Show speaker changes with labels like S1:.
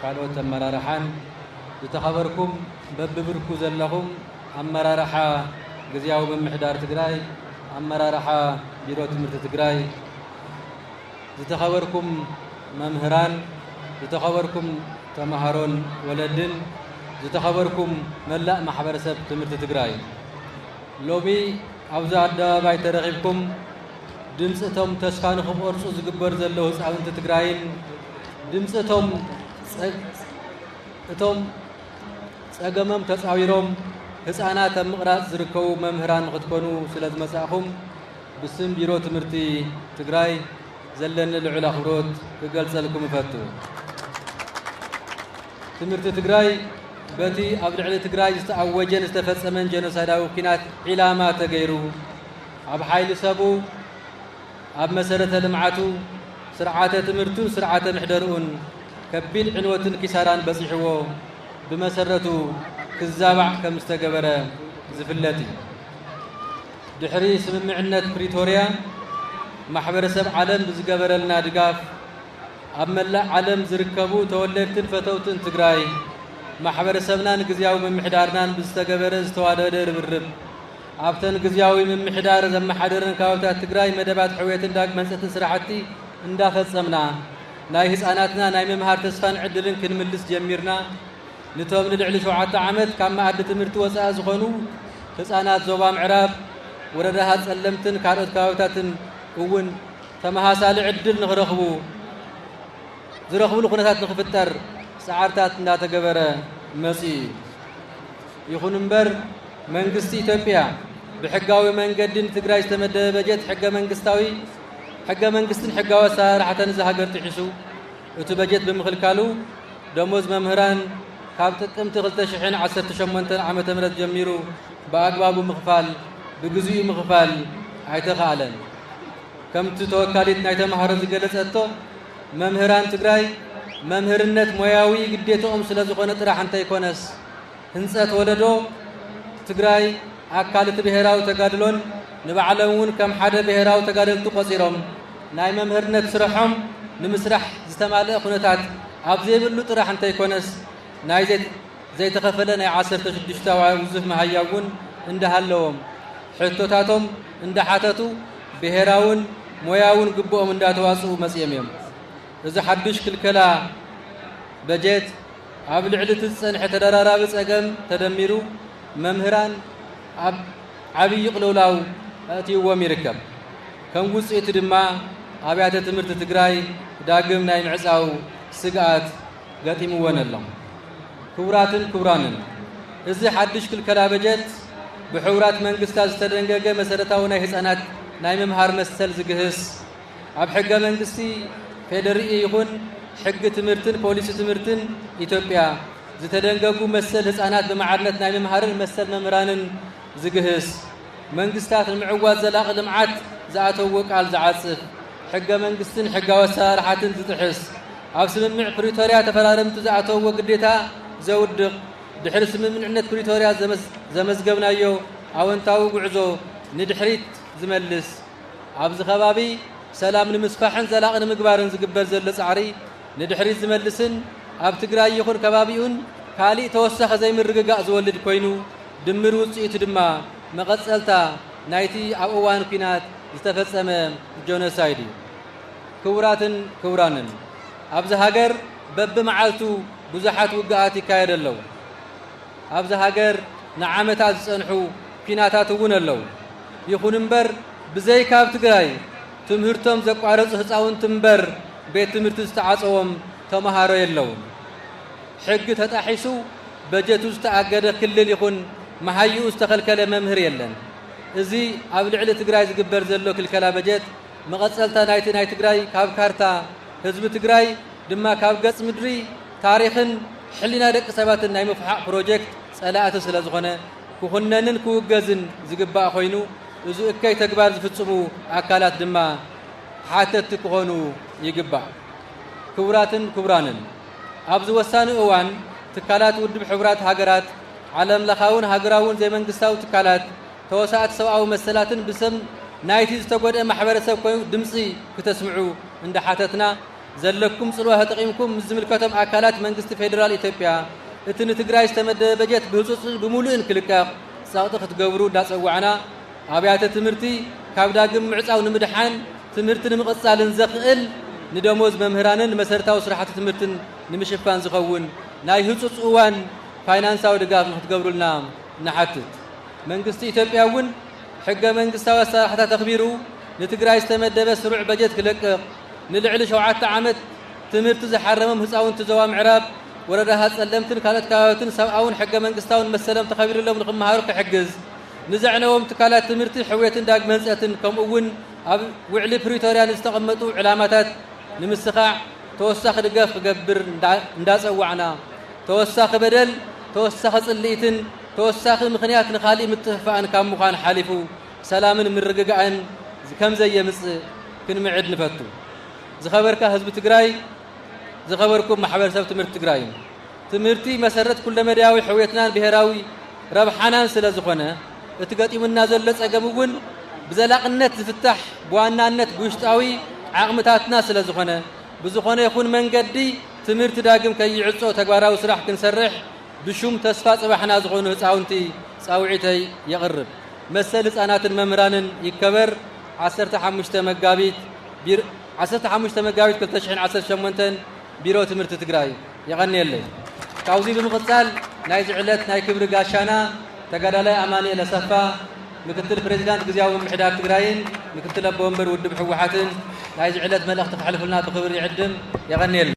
S1: ካልኦት ኣመራርሓን ዝተኸበርኩም በቢብርኩ ዘለኹም ኣመራርሓ ግዝያዊ ምምሕዳር ትግራይ፣ ኣመራርሓ ቢሮ ትምህርቲ ትግራይ፣ ዝተኸበርኩም መምህራን፣ ዝተኸበርኩም ተምሃሮን ወለድን፣ ዝተኸበርኩም መላእ ማሕበረሰብ ትምህርቲ ትግራይ ሎሚ ኣብዚ ኣደባባይ ተረኺብኩም ድምፂ እቶም ተስፋ ንኽቖርፁ ዝግበር ዘሎ ህፃውንቲ ትግራይን ድምፂ እቶም እቶም ፀገሞም ተፃዊሮም ህፃናት ኣብ ምቕራፅ ዝርከቡ መምህራን ንክትኮኑ ስለ ዝመፃእኹም ብስም ቢሮ ትምህርቲ ትግራይ ዘለኒ ልዑል ኣኽብሮት ክገልፀልኩም እፈቱ። ትምህርቲ ትግራይ በቲ ኣብ ልዕሊ ትግራይ ዝተኣወጀን ዝተፈጸመን ጀኖሳይዳዊ ኩናት ዒላማ ተገይሩ ኣብ ሓይሊ ሰቡ ኣብ መሰረተ ልምዓቱ፣ ስርዓተ ትምህርቱን ስርዓተ ምሕደርኡን ከቢድ ዕንወትን ኪሳራን በፂሕዎ ብመሰረቱ ክዛባዕ ከምዝተገበረ ዝፍለጥ እዩ። ድሕሪ ስምምዕነት ፕሪቶርያ ማሕበረሰብ ዓለም ብዝገበረልና ድጋፍ ኣብ መላእ ዓለም ዝርከቡ ተወለድትን ፈተውትን ትግራይ ማሕበረሰብናን ግዝያዊ ምምሕዳርናን ብዝተገበረ ዝተዋደደ ርብርብ ኣብተን ግዝያዊ ምምሕዳር ዘመሓደረን ከባብታት ትግራይ መደባት ሕውየትን ዳግመ ህንፀትን ስራሕቲ እንዳፈፀምና ናይ ህፃናትና ናይ ምምሃር ተስፋን ዕድልን ክንምልስ ጀሚርና። ንቶም ንልዕሊ ሸውዓተ ዓመት ካብ መኣዲ ትምህርቲ ወፃኢ ዝኾኑ ህፃናት ዞባ ምዕራብ ወረዳታት ፀለምትን ካልኦት ከባብታትን እውን ተመሳሳሊ ዕድል ንኽረኽቡ ዝረኽብሉ ኩነታት ንኽፍጠር ፃዕርታት እንዳተገበረ መፂኡ እዩ። ይኹን እምበር መንግስቲ ኢትዮጵያ ብሕጋዊ መንገዲ ንትግራይ ዝተመደበ በጀት ሕገ መንግስታዊ ሕገ መንግስትን ሕጋዊ ኣሰራርሓታን እዛ ሃገር ጥሒሱ እቲ በጀት ብምኽልካሉ ደሞዝ መምህራን ካብ ጥቅምቲ 2018 ዓ ም ጀሚሩ ብኣግባቡ ምኽፋል ብግዚኡ ምኽፋል ኣይተኻእለን። ከምቲ ተወካሊት ናይ ተምሃሮ ዝገለጸቶ መምህራን ትግራይ መምህርነት ሞያዊ ግዴትኦም ስለዝኾነ ጥራሕ እንተይኮነስ ህንፀት ወለዶ ትግራይ ኣካል እቲ ብሄራዊ ተጋድሎን ንባዕሎም እውን ከም ሓደ ብሄራዊ ተጋደልቲ ቆፂሮም ናይ መምህርነት ስርሖም ንምስራሕ ዝተማልአ ኩነታት ኣብ ዘይብሉ ጥራሕ እንተይኮነስ ናይ ዘይተኸፈለ ናይ ዓሰርተ ሽዱሽተ ውዙፍ መሃያ እውን እንዳሃለዎም ሕቶታቶም እንዳሓተቱ ብሄራውን ሞያውን ግብኦም እንዳተዋፅኡ መፅኦም እዮም። እዚ ሓዱሽ ክልከላ በጀት ኣብ ልዕሊ እቲ ዝፀንሐ ተደራራቢ ፀገም ተደሚሩ መምህራን ኣብ ዓብዪ ቅልውላው ኣእትይዎም ይርከብ። ከም ውፅኢቱ ድማ ኣብያተ ትምህርቲ ትግራይ ዳግም ናይ ምዕፃው ስግኣት ገጢምወን ኣሎ። ክቡራትን ክቡራንን እዚ ሓድሽ ክልከላ በጀት ብሕቡራት መንግስታት ዝተደንገገ መሰረታዊ ናይ ህፃናት ናይ ምምሃር መሰል ዝግህስ ኣብ ሕገ መንግስቲ ፌዴሪኢ ይኹን ሕጊ ትምህርትን ፖሊሲ ትምህርትን ኢትዮጵያ ዝተደንገጉ መሰል ህፃናት ብማዕርነት ናይ ምምሃርን መሰል መምህራንን ዝግህስ መንግስታት ንምዕዋት ዘላቒ ልምዓት ዝኣተዎ ቃል ዝዓፅፍ ሕገ መንግስትን ሕጋዊ ኣሰራርሓትን ዝጥሕስ ኣብ ስምምዕ ፕሪቶሪያ ተፈራረምቲ ዝኣተዎ ግዴታ ዘውድቕ ድሕሪ ስምምዕነት ፕሪቶሪያ ዘመዝገብናዮ ኣወንታዊ ጉዕዞ ንድሕሪት ዝመልስ ኣብዚ ከባቢ ሰላም ንምስፋሕን ዘላቒ ንምግባርን ዝግበር ዘሎ ፃዕሪ ንድሕሪት ዝመልስን ኣብ ትግራይ ይኹን ከባቢኡን ካሊእ ተወሳኺ ዘይምርግጋእ ዝወልድ ኮይኑ ድምር ውፅኢቱ ድማ መቐፀልታ ናይቲ ኣብ እዋን ኲናት ዝተፈፀመ ጆኖሳይድ እዩ። ክቡራትን ክቡራንን ኣብዚ ሃገር በብመዓልቱ ብዙሓት ውግኣት ይካየዱ ኣለዉ። ኣብዛ ሃገር ንዓመታት ዝጸንሑ ኲናታት እውን ኣለዉ። ይኹን እምበር ብዘይካ ኣብ ትግራይ ትምህርቶም ዘቋረጹ ህጻውንቲ እምበር ቤት ትምህርቲ ዝተዓጸዎም ተመሃሮ የለዉን። ሕጊ ተጣሒሱ በጀቱ ዝተኣገደ ክልል ይኹን መሃይኡ ዝተኸልከለ መምህር የለን። እዚ ኣብ ልዕሊ ትግራይ ዝግበር ዘሎ ክልከላ በጀት መቐጸልታ ናይቲ ናይ ትግራይ ካብ ካርታ ህዝቢ ትግራይ ድማ ካብ ገጽ ምድሪ ታሪኽን ሕሊና ደቂ ሰባትን ናይ ምፍሓቕ ፕሮጀክት ፀላእቲ ስለዝኾነ ክኹነንን ክውገዝን ዝግባእ ኮይኑ እዚ እከይ ተግባር ዝፍፅሙ ኣካላት ድማ ሓተትቲ ክኾኑ ይግባእ። ክቡራትን ክቡራንን፣ ኣብዚ ወሳኒ እዋን ትካላት ውድብ ሕቡራት ሃገራት፣ ዓለም ለኻውን ሃገራውን ዘይመንግስታዊ ትካላት፣ ተወሳእቲ ሰብኣዊ መሰላትን ብስም ናይቲ ዝተጎድኤ ማሕበረሰብ ኮይኑ ድምፂ ክተስምዑ እንዳሓተትና፣ ዘለኩም ፅልዋ ተጠቒምኩም ምስ ዝምልከቶም ኣካላት መንግስቲ ፌዴራል ኢትዮጵያ እቲ ንትግራይ ዝተመደበ በጀት ብህፁፅን ብሙሉእን ክልቀቕ ፀቕጢ ክትገብሩ እንዳፀዋዕና ኣብያተ ትምህርቲ ካብ ዳግም ምዕፃው ንምድሓን ትምህርቲ ንምቕፃልን ዘኽእል ንደሞዝ መምህራንን ንመሰረታዊ ስራሕቲ ትምህርትን ንምሽፋን ዝኸውን ናይ ህፁፅ እዋን ፋይናንሳዊ ድጋፍ ንክትገብሩልና ንሓትት። መንግስቲ ኢትዮጵያ እውን ሕገ መንግስታዊ ኣሰራርሓታት ኣኽቢሩ ንትግራይ ዝተመደበ ስሩዕ በጀት ክለቅቕ ንልዕሊ ሸውዓተ ዓመት ትምህርቲ ዝሓረሞም ህፃውንቲ ዞባ ምዕራብ ወረዳ ሃፀለምትን ካልኦት ከባብትን ሰብኣውን ሕገ መንግስታውን መሰሎም ተኸቢርሎም ንክመሃሩ ክሕግዝ ንዘዕነዎም ትካላት ትምህርቲ ሕውየትን ዳግመ ህንፀትን ከምኡ እውን ኣብ ውዕሊ ፕሪቶርያ ንዝተቐመጡ ዕላማታት ንምስኻዕ ተወሳኺ ድጋፍ ክገብር እንዳፀዋዕና ተወሳኺ በደል ተወሳኺ ፅልኢትን ተወሳኺ ምኽንያት ንካሊእ ምጥፍፋእን ካብ ምዃን ሓሊፉ ሰላምን ምርግጋእን ከምዘየምፅእ ክንምዕድ ንፈቱ። ዝኸበርካ ህዝቢ ትግራይ፣ ዝኸበርኩም ማሕበረሰብ ትምህርቲ ትግራይን፣ ትምህርቲ መሰረት ኩለመዳያዊ ሕውየትናን ብሄራዊ ረብሓናን ስለዝኾነ እቲ ገጢሙና ዘሎ ፀገም እውን ብዘላቕነት ዝፍታሕ ብዋናነት ብውሽጣዊ ዓቕምታትና ስለዝኾነ ብዝኾነ ይኹን መንገዲ ትምህርቲ ዳግም ከይዕፆ ተግባራዊ ስራሕ ክንሰርሕ ብሹም ተስፋ ጽባሕና ዝኾኑ ህጻውንቲ ጻውዒተይ የቕርብ። መሰል ህጻናትን መምህራንን ይከበር ዓሰርተ ሓሙሽተ መጋቢት ቢሮ ዓሰርተ ሓሙሽተ መጋቢት ክልተ ሽሕን ዓሰርተ ሸሞንተን ቢሮ ትምህርቲ ትግራይ የቐንየለይ። ካብዚ ብምቕጻል ናይዚ ዕለት ናይ ክብሪ ጋሻና ተጋዳላይ ኣማንኤል ኣሰፋ ምክትል ፕሬዚዳንት ግዝያዊ ምምሕዳር ትግራይን ምክትል ኣቦ ወንበር ውድብ ህወሓትን ናይዚ ዕለት መልእኽቲ ከሕልፉልና ብኽብሪ ይዕድም። የቐንየለይ።